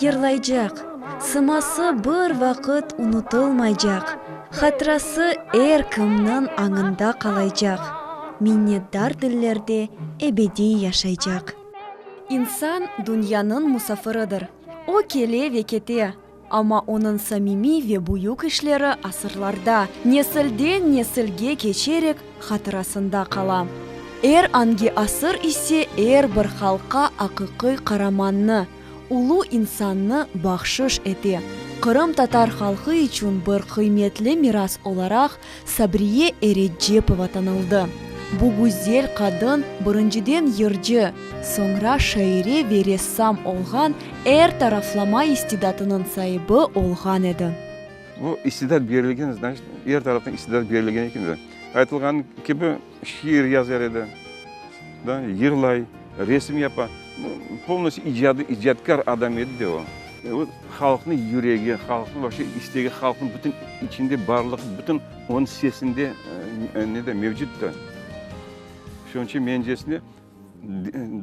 Yırlaycaq. Sıması bir vaqıt unutılmaycaq. Hatırası er kimniñ añında qalaycaq. Minnetdar dillerde ebediy yaşaycaq. İnsan dünyanıñ musafiridir. O kele ve kete, amma onıñ samimiy ve büyük işleri asırlarda, nesilden-nesilge keçerek hatırasında qala. Er angi asır ise er bir halqqa aqiqiy qaramannı, Ulu insannı bahşış ete. Qırımtatar halqı içün bir qıymetli miras olaraq Sabriye Eretcepova tanıldı. Bu güzel qadın birinciden yırcı, soñra şaire ve ressam olğan, er taraflama istidatınıñ saibi olğan edi. Bu istidat berilgen, znaçit, er taraftan istidat berilgen eken. Aytılğanı kibi. Şiir yazar edi, yırlay, resim yapa. Polnoste icadiy, icadkâr adam edi de o. Halqnıñ yüregi, halqnıñ vapşe istegi, halqnıñ bütün içinde barlığı, bütün onıñ sesinde mevcuttu. Şunıñ içün mencesine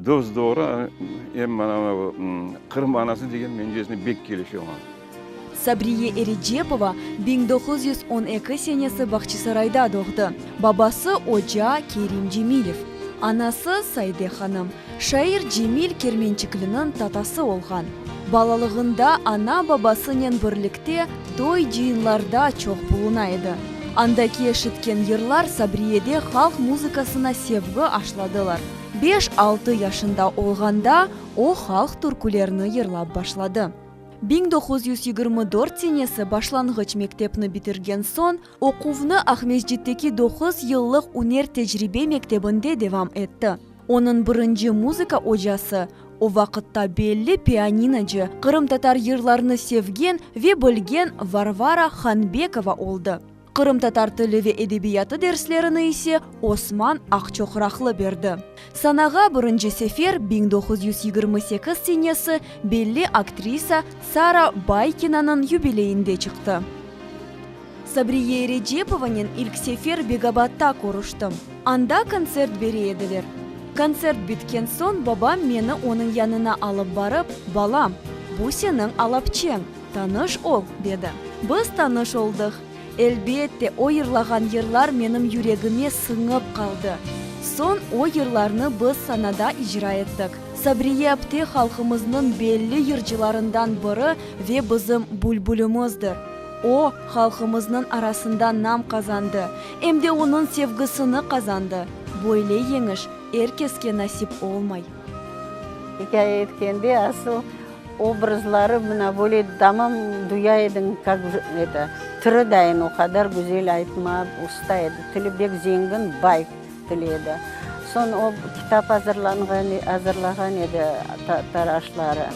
Dos-doğru, em mana bu Qırım anası degen mencesine bek kelişe oña. Sabriye Erecepova biñ doquz yüz on eki senesi Bağçasarayda doğdı. Babası, oca Kerim Cemilev, anası, Saide hanım, şair Cemil Kermençikliniñ tatası olğan. Balalığında ana-babasınen birlikte Toy-cıyınlarda çoq buluna edi. Andaki eşitken yırlar Sabriyede halq muzıkasına sevgi aşladılar. Beş-altı yaşında olğanda o halq türkülerni yırlap başladı. Biñ doquz yüz yigirmi dört senesi başlanğıç mektepni bitirgen soñ, oquvnı Aqmescitteki doquz yıllıq üner-tecribe mektebinde devam etti. Onıñ birinci muzıka ocası, o vaqıtta belli pianinocı, qırımtatar yırlarını sevgen ve bilgen Varvara Hanbekova oldı. Qırımtatar tili ve edebiyatı derslerini ise Osman Aqçoqraqlı berdi. Sanağa birinci sefer biñ doquz yüz yigirmi sekiz senesi belli aktrisa Sara Baykinanıñ yubileyinde çıqtı. Sabriye Recepovanen ilk sefer Begabatta körüştim. Anda kontsert bere ediler. Kontsert bitken soñ babam meni onıñ yanına alıp barıp, Balam, bu seniñ alapçeñ, tanış ol, dedi. Biz tanış oldıq. Elbette, o yırlağan yırlar menim yüregime sıñıp qaldı. Soñ o yırlarnı biz sanada icra ettik. Sabriye apte halqımıznıñ belli yırcılarından biri ve bizim bülbülimizdir. O, halqımıznıñ arasında nam qazandı, em de onıñ sevgisini qazandı. Böyle yeñiş er keske nasip olmay. İkâye etkende asıl obrazları mına böyle tamam duya ediñ, kak eto, tiri dayın o qadar güzel aytma usta edi, tili bek zengin, bay til edi. Soñ o kitap azırlanğan, azırlağan edi taraşları.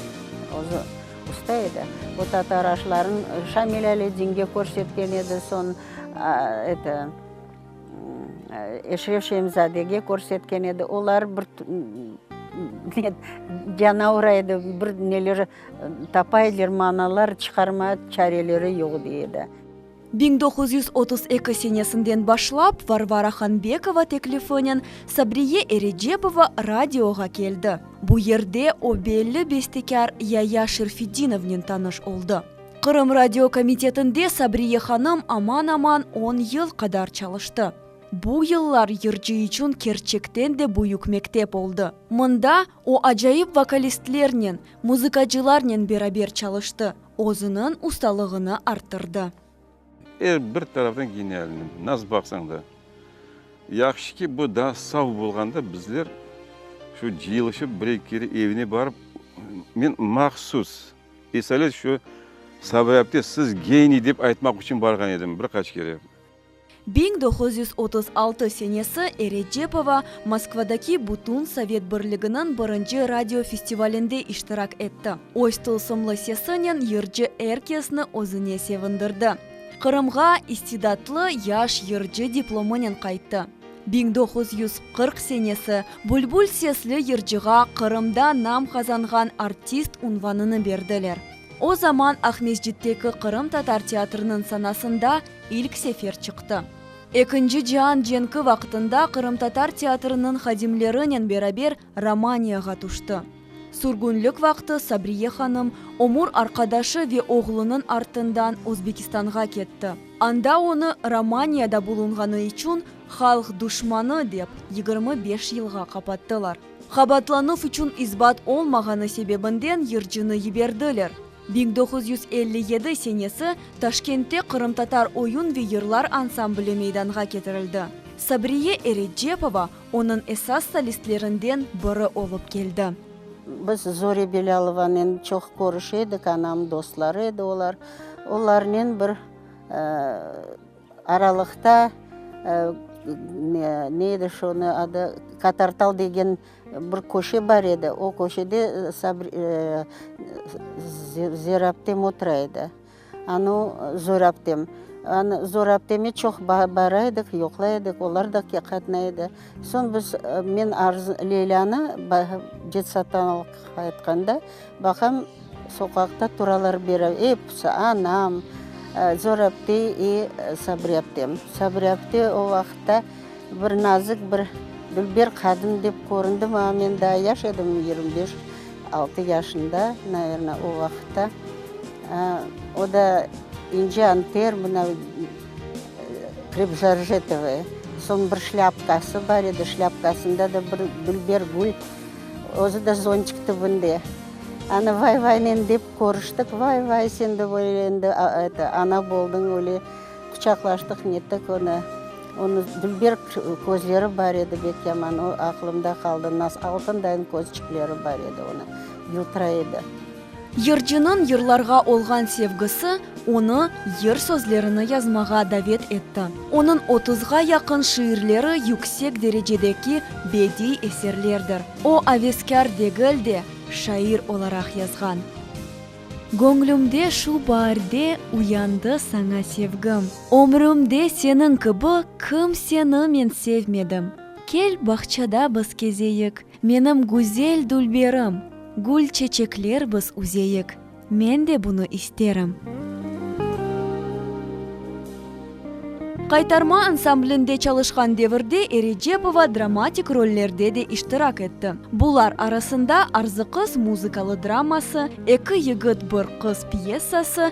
Usta edi. O tatar aşların Şamil Aleddinge körsetken edi, soñ eto, Eşref Şemzadege körsetken edi. Olar bir canavra edi, bir neler tapay eder, manalar çıqarmay çareleri yoq dey edi. Biñ doquz yüz otuz eki senesinden başlap Varvara Hanbekova teklifinen Sabriye Erecepova radioğa keldi. Bu yerde o belli bestekâr Yaya Şerfitdinovnen tanış oldı. Qırım radio komitetinde Sabriye hanım aman-aman on yıl qadar çalıştı. Bu yıllar yırcı içün kerçekten de büyük mektep oldı. Mında o acayip vokalistlernen, muzıkacılarnen beraber çalıştı. Özüniñ ustalığını arttırdı. Er bir taraftan genialniy, nasıl baqsañ da. Yahşı ki, bu daa sav bolğanda bizler şu cıyılışıp birey kere evine barıp, men mahsus esalet şu Sabrâpte siz geniy dep aytmaq içün barğan edim bir qaç kere. Biñ doquz yüz otuz altı senesi Erecepova Moskvadaki Bütün Sovet Birliginiñ birinci radio festivalinde iştirak etti, öz tılsımlı sesinen yırcı er kesni özüne sevindirdi. Qırımğa İstidatlı yaş yırcı diplomınen qayttı. Biñ doquz yüz qırq senesi Bülbül sesli yırcığa Qırımda nam qazanğan artist unvanını berdiler. O zaman Aqmescitteki qırımtatar teatrınıñ sanasında ilk sefer çıqtı. Ekinci cian cenki vaqtında qırımtatar teatrınıñ hadimlerinen beraber Romaniyağa tüşti. Sürgünlik vaqtı Sabriye hanım ömür arqadaşı ve oğlunıñ artından Özbekistanğa ketti. Anda onı Romaniyada bulunğanı içün halq duşmanı dep yigirmi beş yılğa qapattılar. Qabaatlanuv içün isbat olmağanı sebebinden yırcını yiberdiler. Biñ doquz yüz elli yedi senesi Taşkentte qırımtatar oyun ve yırlar ansambli meydanğa ketirildi. Sabriye Erecepova onıñ esas solistlerinden biri olıp keldi. Biz Zorya Belâlovanen çoq körüşe edik, anamnıñ dostları edi olar. Olarnen bir aralıqta, ne edi şonı adı, Katartal degen Bir köşe bar edi, o köşede Zorabtem otura edi. Anı Zorabtem. Anı Zorabteme çoq bara edik, yoqlay edik, olar da qatnay edi. Soñ biz, men Leylanı detsattan alıp qaytqanda, Baqañ, soqaqta turalar beri episi, anam, Zorepte i Sabrepte. Sabrepte o vaqıtta bir nazik, bir dülber qadın dep köründi maña, men daa yaş edim, yigirmi beş, altı yaşında, navernâ, o vaqıtta. O da ince anter, mına, krepžarjetovaya. Soñ bir şlâpkası bar edi, şlâpkasında da bir dülber gül. Özü de zontik tübünde. Anı vay-vaynen dep körüştik, vay-vay, sen de böyle endi ana boldıñ, öyle quçaqlaştıq, nettik onı. Onı dülber közleri bar edi, bek yaman, o aqlımda qaldı, altındayn közçikleri bar edi onı, yıltıra edi. Yırcınıñ yırlarğa olğan sevgisi onı yır sözlerini yazmağa davet etti. Onıñ otuzğa yaqın şiirleri yüksek derecedeki bediy eserlerdir. O, aveskâr degil de, şair olaraq yazğan. Göñlümde şu baarde uyandı saña sevgim. Ömrümde seniñ kibi kimseni men sevmedim. Kel, bağçada biz kezeyik, Menim güzel dülberim, gül çeçekler biz üzeyik, men de bunı isterim. Qaytarma ansamblinde çalışqan devirde Erecepova dramatik rollerde de iştirak etti. Bular arasında Arzıqız muzıkalı draması, Eki yigit, bir qız pyessası,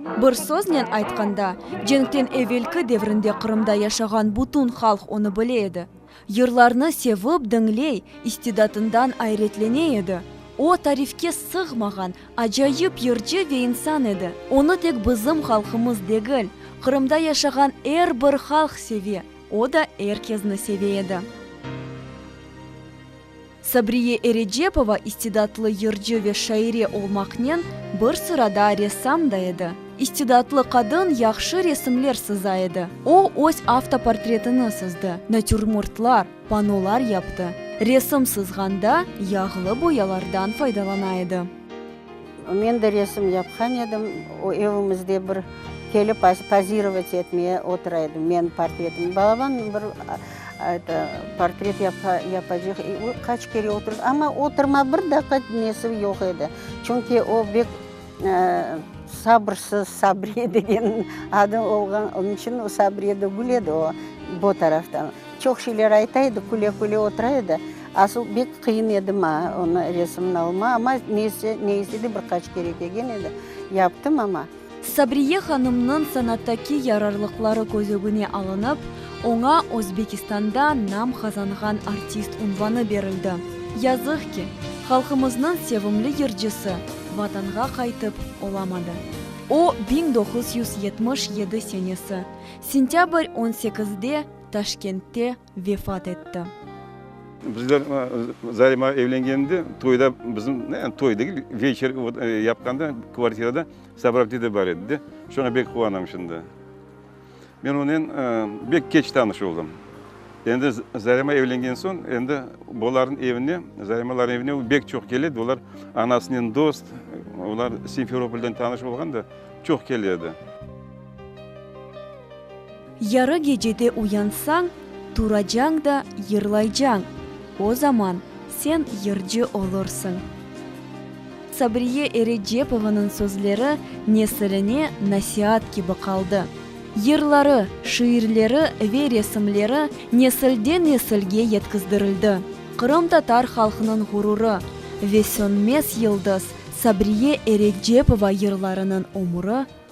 Bir söznen aytqanda, cenkten evelki devrinde Qırımda yaşağan bütün halq onı bile edi. Yırlarnı sevip diñley, istidatından ayretlene edi. O, tarifke sığmağan, acayip yırcı ve insan edi. Onı tek bizim halqımız degil, Qırımda yaşağan er bir halq seve, o da er kezni seve edi. Sabriye Erecepova istidatlı yırcı ve şaire olmaqnen, bir sırada ressam da edi. İstidatlı qadın yahşı resimler sıza edi. O, öz avtoportretini sızdı, natürmortlar, panolar yaptı. Resim sızğanda yağlı boyalardan faydalana edi. Men de resim yapqan edim, o evimizde bir kelip pozirovat etmeye otura edi, menim portretim. Balaban bir eto portret yapacaq, o qaç kere otur, amma oturma, bir daqiqa nesi yoq edi, çünki o bek sabırsız, Sabriye degen adı olğan, onun içün Sabriye de güledi o, bu taraftan. Çoq şeyler ayta edi, küle-küle otura edi. Asıl bek qıyın edi maña onı resimni alma, amma neyse, neyse de bir qaç kere kelgen edi, yaptım amma. Sabriye hanımnıñ sanattaki yararlıqları köz ögüne alınıp, oña Özbekistanda nam qazanğan artist unvanı berildi. Yazıq ki, halqımıznıñ sevimli yırcısı Vatanğa qaytıp olamadı. O, biñ doquz yüz yetmiş yedi senesi sentâbr on sekizde Taşkentte vefat etti. Bizler Zarima evlengeninde toyda bizim, yani toy degil, veçer yapqanda kvartirada Sabrabdi de bar edi de, şoña bek quvana mışım da. Men onen bek keç tanış oldım. Endi Zarima evlengen soñ, endi bolarnıñ evine, Zarimalarnıñ evine o bek çoq kele edi, olar anasınen dost, olar Simferopolden tanış olğan da çoq kele edi. Yarı gecede uyansañ, turacañ da yırlaycañ, o zaman sen yırcı olursıñ. Sabriye Erecepovanıñ sözleri nesiline nasiat kibi qaldı. Yırları, şiirleri ve resimleri nesilden-nesilge yetkizdirildi. Qırımtatar halqnıñ ğururı ve sönmez yıldız Sabriye Erecepova yırlarınıñ ömüri